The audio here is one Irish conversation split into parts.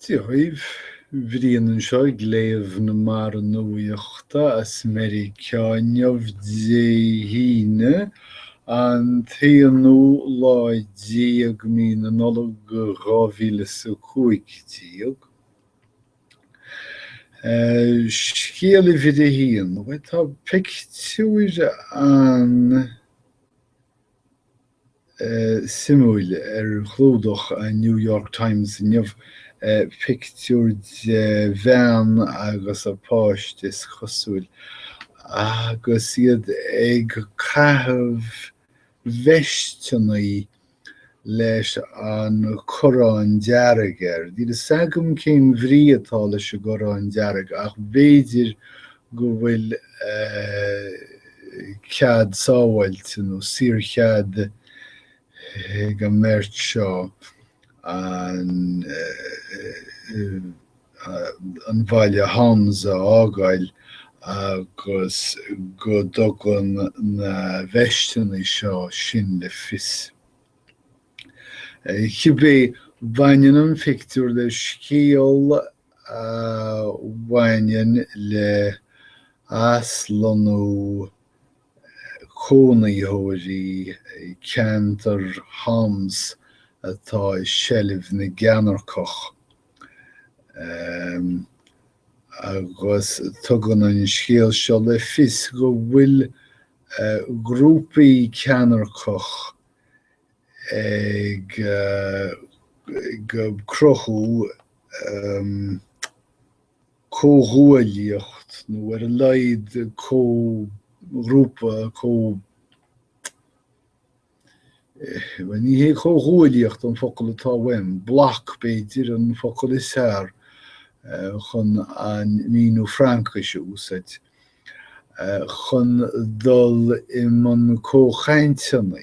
Dia dhaoibh, Brian anseo ag léamh na mbarra nuachta as Meiriceá inniu, Dé hAoine, an t-aonú lá déag mí na Nollag dhá mhíle is a cúig déag. Scéal uimhir a haon, bhuel tá pictiúr an- suimiúil ar chlúdach an New York Times inniu, pictiúr de bhean agus a páiste, is cosúil, agus iad ag caitheamh veisteanna leis an corrán dearg air. Níl 'fhios agam cén bhrí atá leis an gcorrán dearg ach b'fhéidir go bhfuil cead sábháilte nó saorchead ag an mbeirt seo an bhaile Homs a fhágáil agus go dtugann na veisteanna seo sin le fios. Cibé, baineann an phictiúr le scéal a bhaineann le haslonnú cónaitheoirí ceantar Homs atá i seilbh na gceannairceach agus tugann an scéal seo le fios go bhfuil grúpaí ceannairceach ag cruthú comhghuaillíocht nó ar a laghad comhghrúpa, comh. bhuel ní hé comhghuaillíocht an focal atá uaim, bloc b'fhéidir an focal is fearr chun an míniú Fraincise a úsáid, chun dul i mbun comhchainteanna.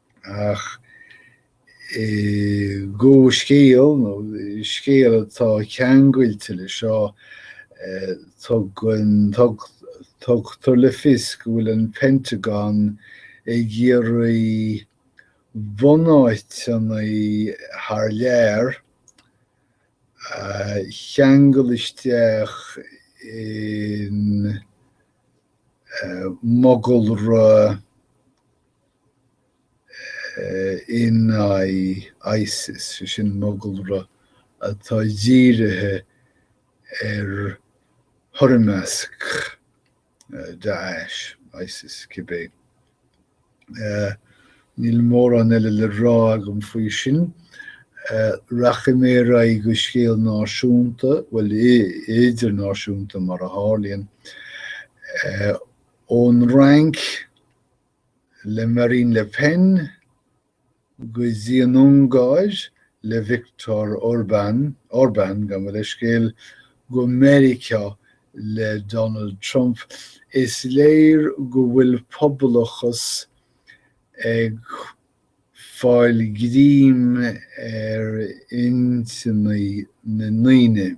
Ach i gcomhscéal, nó i scéal atá ceangailte leis seo, tugann, tug, tugtar le fios go bhfuil an Pentagon ag iarraidh bunáiteanna thar lear a cheangal isteach in mogalra, in aghaidh Isis, sé sin mogalra atá dírithe ar thoirmeasc Daesh, Isis, cibé. Níl mórán eile le rá agam faoi sin. Rachaidh mé ar aghaidh go scéal náisiúnta, bhuel, idirnáisiúnta mar a tharlaíonn, ón Fhrainc. le Marine Le Pen go dtí an Ungáir le Viktor Orban, Orbán, gabh mo leithscéal, go Meiriceá le Donald Trump, is léir go bhfuil pobalachas ag fáil greim ar intinní na ndaoine.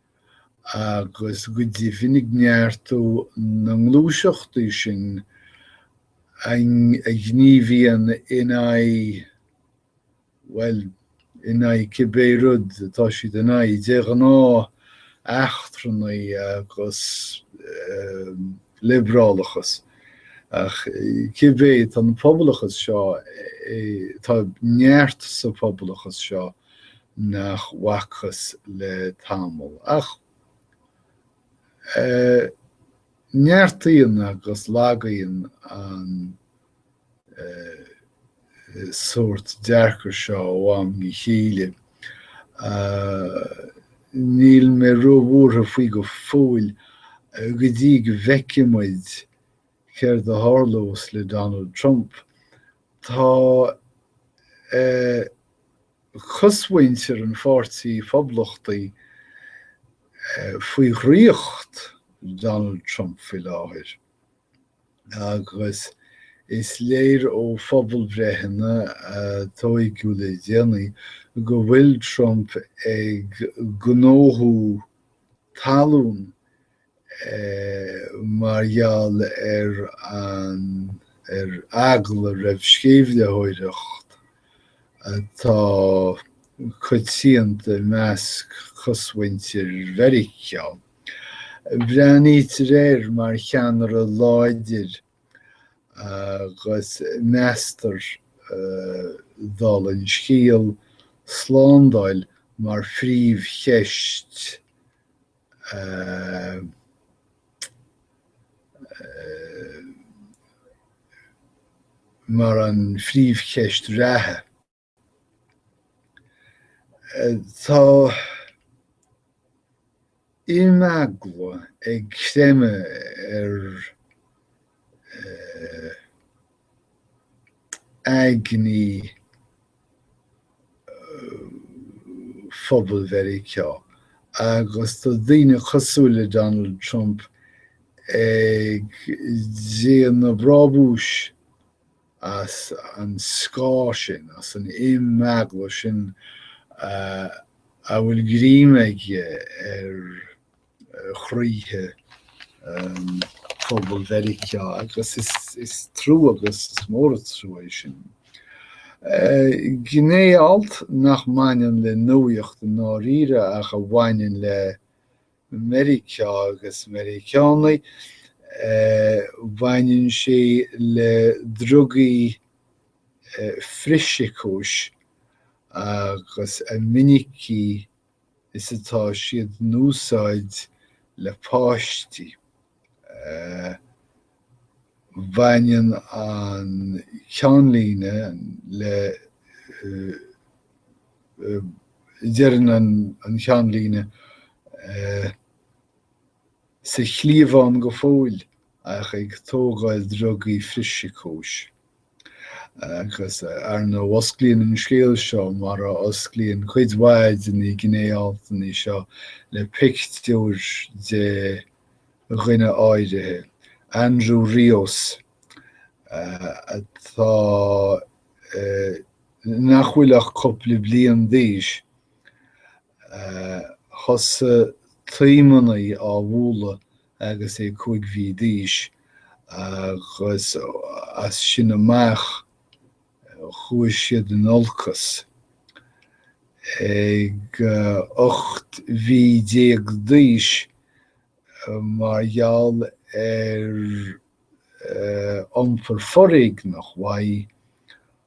agus go deimhin ag neartú na ngluaiseachtaí sin a ghníomhaíonn in aghaidh, bhuel, in aghaidh cibé rud atá siad in aghaidh, de ghnáth eachtrannaigh agus liobrálachas, ach cibé, tá an pobalachas seo, tá neart sa phobalachas seo nach bhfacthas le tamall, ach neartaíonn agus lagaíonn an sórt dearcaidh seo ó am go chéile. Níl mé róbhuartha faoi go fóill, go dtí go bhfeicfidh muid céard a tharlós le Donald Trump Tá cosmhuintir an Pháirtí Phoblachtaigh faoi dhraíocht Donald Trump faoi láthair agus is léir ó phobalbhreitheanna a tóigeadh le déanaí go bhfuil Trump ag gnóthú talún mar gheall ar an ar eagla roimh sceimhlitheoireacht atá coitianta i measc cosmhuintir Mheiriceá. Breathnaítear air mar cheannaire láidir agus meastar, dála an scéil, slándáil mar phríomhcheist mar an phríomhcheist reatha. Tá imeagla ag creimeadh ar aigní phobal Mheiriceá agus tá daoine cosúil le Donald Trump ag déanamh brabúis as an scáth sin, as an imeagla sin a bhfuil greim aige ar. chroíthe phobal Mheiriceá agus is trua agus is mór an trua é sin. Gné-alt nach mbaineann le nuaíocht i ndáiríre ach a bhaineann le Meiriceá agus Meiriceánaigh, baineann sé le drugaí frithshíocóis agus a mhinicí is atá siad in úsáid le páistí. Baineann an ceannlíne le deireann an cheannlíne Sa chliabhán go fóill ach ag tógáil drugaí frithshíocóis. Agus, ar ndóigh, osclaíonn an scéal seo, mar a osclaíonn cuid mhaith de na gné-altanna seo, le pictiúr de dhuine áirithe, Andrew Rios, atá, nach bhfuil ach cúpla bliain d'aois. Thosaigh taomannaí á bhualadh agus é cúig mhí d'aois agus as sin amach chuaigh siad in olcas. Ag ocht mhí déag d'aois, mar gheall ar iompar foréigneach uaidh,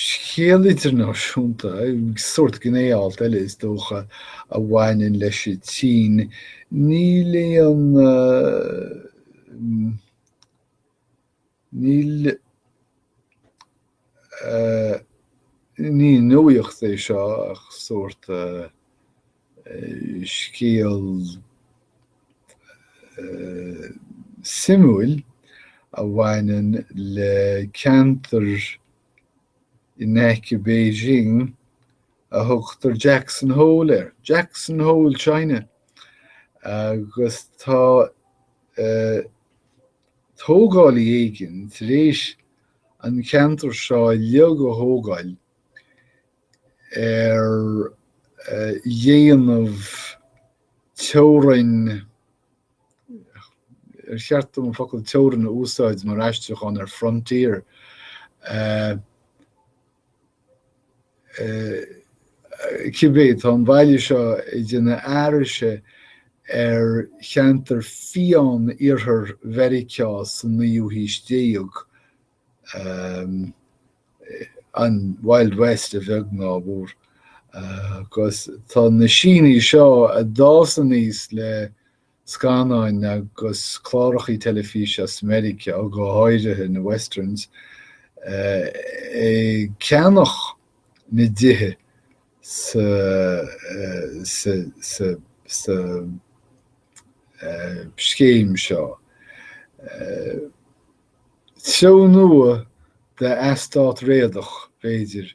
Scéal idirnáisiúnta, sórt gné-alt eile is dócha, a bhaineann leis an tSín. Níl aon, níl, ní nuaíocht é seo ach sórt. scéal suimiúil a bhaineann le ceantar in aice Beijing a thugtar Jackson Hole air, Jackson Hole China, agus tá tógálaí éigin tar éis an ceantar seo uilig a thógáil ar dhéanamh teorainn, ar cheart dom focal teorainn a úsáid mar aistriúchán ar frontier? cibé, tá an baile seo ag déanamh aithrise ar cheantar fiáin iarthar Mheiriceá sa naoú haois déag. an Wild West a bheag ná a mhór agus tá na Sínigh seo a d'fhás aníos le scannáin agus clárachaí teilifíse as Meiriceá, go háirithe na Westerns, ag ceannach na dtithe sa sa scéim seo. Treo nua de eastát réadach, b'fhéidir,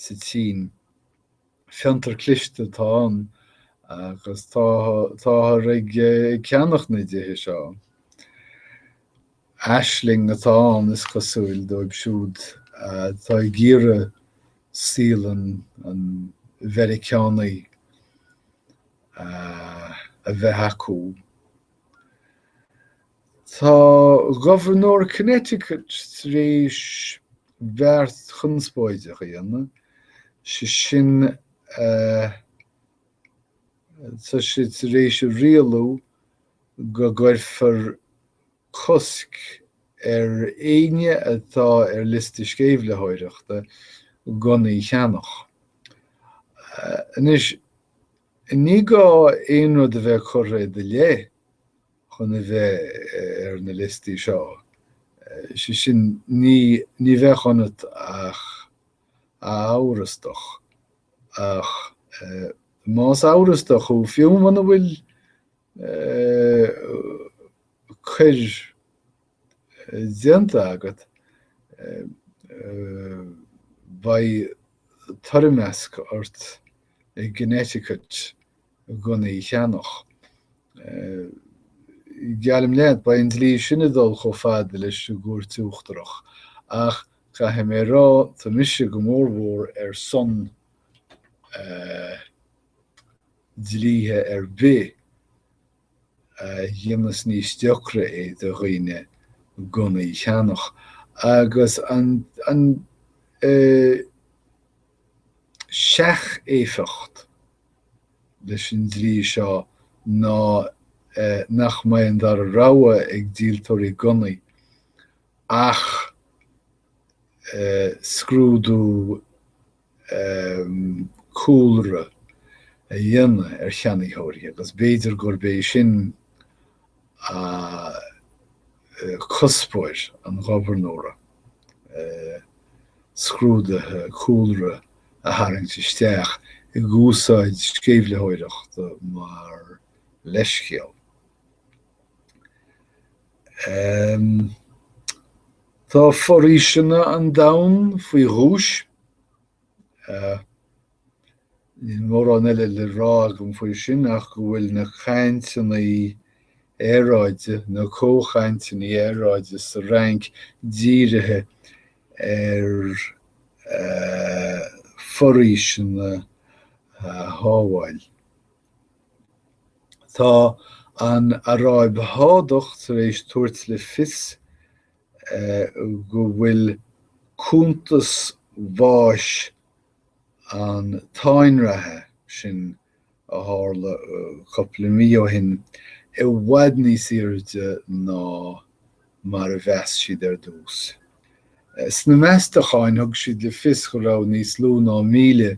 sa tSín. Fiontar cliste atá ann agus táthar ag ceannach na dtithe seo. Aisling atá ann, is cosúil, dóibh siúd atá ag iarraidh saol an an Mheiriceánaigh a bheith acu. Tá Gobharnóir Connecticut tar éis beart conspóideach a dhéanamh, sé sin tá sé tar éis a rialú go gcuirfear cosc ar éinne atá ar liosta sceimhlitheoireachta gunnaí a cheannach. Anois, ní gá aon rud a bheith curtha i do leith, chun a bheith ar na liostaí seo, sé sin ní ní bheadh ionat ach a amhrastach, ach más amhrastach thú, fiú muna bhfuil coir déanta agat, beidh toirmeasc ort i gConnecticut gunnaí a cheannach. Geallaim leat, beidh an dlí sin ag dul chomh fada leis an gCúirt Uachtarach, ach caithfidh mé a rá, tá mise go mór mhór ar son dlíthe ar bith a dhéanas níos deacra é do dhaoine gunnaí a cheannach, agus an seach-éifeacht leis an dlí seo ná nach mbeidh an dara rogha ag díoltóirí gunnaí ach scrúdú cúlra a dhéanamh ar cheannaitheoirí agus b'fhéidir gurb é sin cuspóir an Ghobharnóra, scrúduithe cúlra a tharraingt isteach ag úsáid sceimhlitheoireachta mar leithscéal. Tá foraoiseanna an domhain faoi ghuais. Níl mórán eile le rá agam faoi sin ach go bhfuil na cainteanna aeráide, na comhchainteanna aeráide sa Fhrainc dírithe ar foraoiseanna a shábháil. Tá an Aráib Shádach tar éis tabhairt le fios go bhfuil cuntas bháis an táinreatha sin a tharla cupla mí ó shin i bhfad níos aoirde ná mar a mheas siad ar dtús. Sna meastacháin thug siad le fios go raibh níos lú ná míle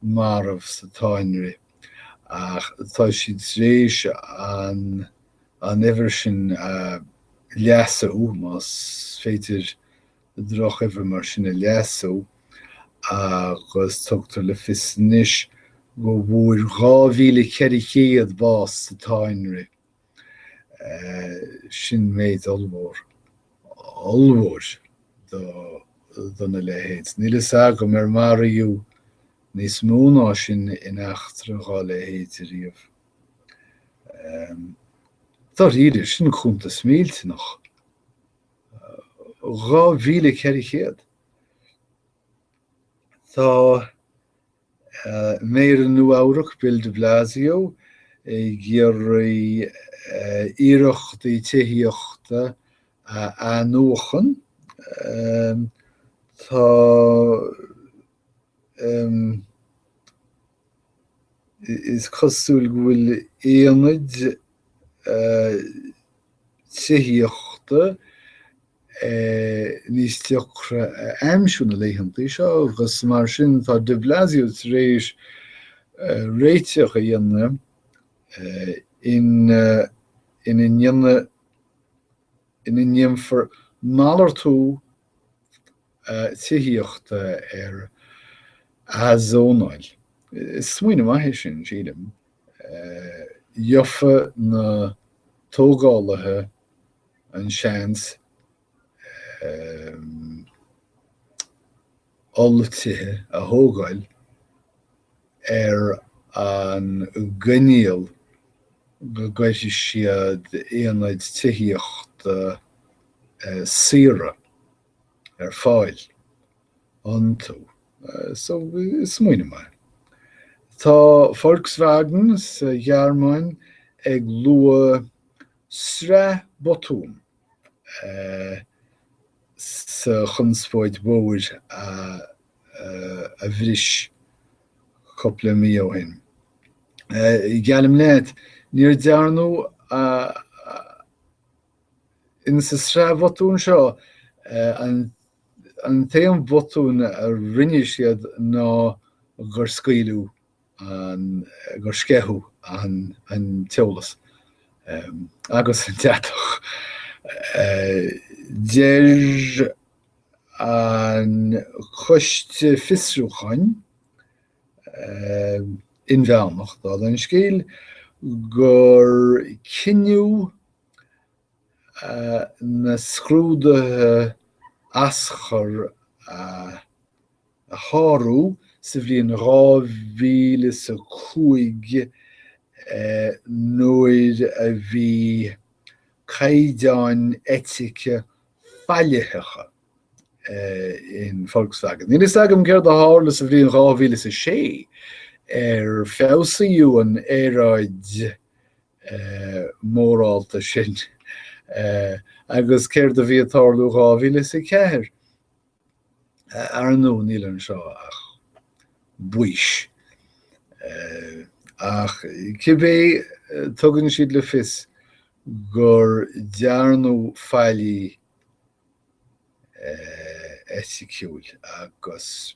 marbh sa táinrith ach tá siad tar éis an an uimhir sin a leasú, más féidir drochuimhir mar sin a leasú, agus tugtar le fios anois go bhfuair 2,400 bás sa táinrith. eh sin méid ollmhór, ollmhór do, dona leithéid. Níl fhios agam ar maraíodh níos mó ná sin in eachtra dhá leithéid ariamh. Dáiríre, sin cuntas millteanach. 2,400! Tá. Méara Nua-Eabhrac Bill de Blasio ag iarraidh iarrachtaí tithíochta a athnuachan Tá Is cosúil go bhfuil aonaid tithíochta níos deacra a aimsiú na laethanta seo agus mar sin tá de Blasio tar éis réiteach a dhéanamh ina ndéanfar malartú tithíochta ar athzónáil. Is smaoineamh maith é sin, sílim. Gheobhadh na tógálaithe an-seans, olltithe a thógáil ar an gcoinníoll go gcuirfidh siad aonaid tithíochta saora ar fáil iontu. Smaoineamh maith. Tá Volkswagen sa Ghearmáin ag lua sraith botún sa chonspóid mhór a bhris cúpla mí ó shin. Geallaim leat, níor dearnadh insa sraith bhotún seo, an t-aon bhotún a rinne siad ná gur scaoileadh an gur sceitheadh an t-eolas agus an deatach. Deir an coiste fiosrúcháin inmheánach, dála an scéil, gur cinneadh na scrúduithe aschur a shárú sa bhliain 2000 is a cúig nuair a bhí caighdeáin eitice faillitheacha in Volkswagen. Níl a fhios agam céard a tharla sa bhliain 2000 is a sé, ar feabhsaíodh an aeráid mhórálta sin. Agus céard a bhí ag tarlú dhá mhíle is a ceathair? Ar ndú, níl anseo ach baois. Ach cibé, tugann siad le fios gur dearnadh faillí eiticiúil agus.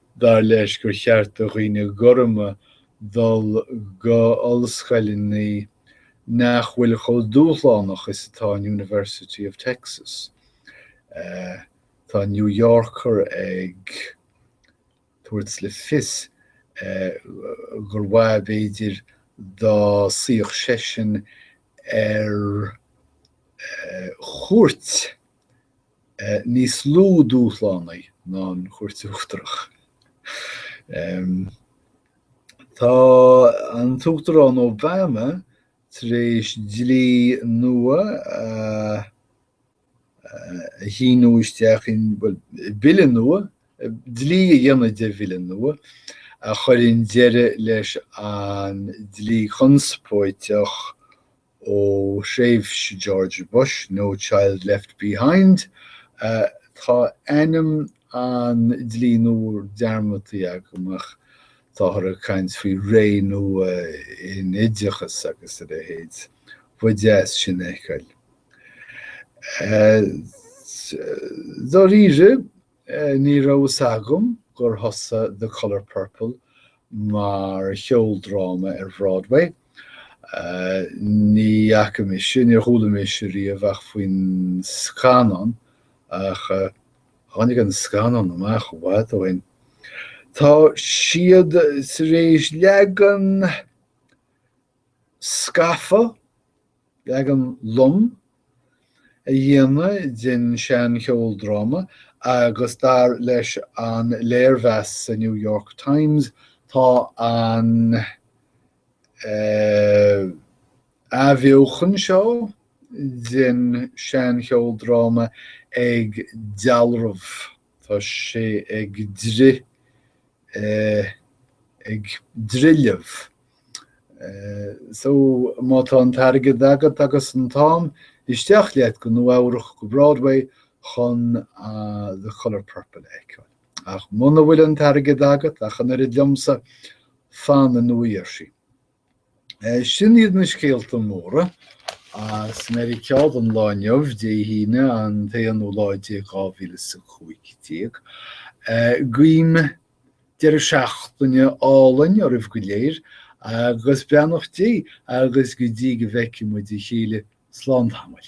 Dar leis gur cheart do dhaoine gorma dul go ollscoileanna nach bhfuil chomh dúshlánach is atá an University of Texas. Tá an New Yorker ag tabhairt le fios gur mhaith an rud b'fhéidir dá suíodh seisean ar chúirt. Níos lú dúshlánaí ná an Chúirt Uachtarach. Tá an tUachtarán Obama tar éis dlí nua a shíniú isteach, bhuel, bille nua, dlí a dhéanamh de bhille nua, a chuireann deireadh leis an dlí conspóideach Ó thréimhse George Bush, No Child Left Behind, tá ainm an dlí nua dearmadta agam ach táthar ag caint faoi ré nua in oideachas agus a leithéid. Ba dheas sin a fheiceáil. Dáiríre? Ní raibh fhios agam gur thosaigh The Colour Purple mar cheoldráma ar Bhroadway. Ní fhaca mise, níor chuala mise riamh ach faoin scannán, ach tháinig an scannán amach i bhfad ó shin. Tá siad tar éis leagan scafa, leagan lom a dhéanamh den seancheoldráma, agus dar leis an léirmheas sa New York Times, tá an athbheochan seo den seancheoldráma ag dealramh. Tá sé ag dri. eh. ag drithleamh. Eh. so, má tá an t-airgead agat agus an t-am, isteach leat go Nua-Eabhrac, go Broadway, chun The Colour Purple a fheiceáil. Ach muna bhfuil an t-airgead agat, ach an oiread liomsa, fan i Nua Gheirsí. Sin iad na scéalta móra as Meiriceá don lá inniu, Dé hAoine, an t-aonú lá déag 2015. Guím deireadh seachtaine álainn oraibh go léir agus beannacht Dé agus go dtí go bhfeicfidh muid a chéile slán tamall.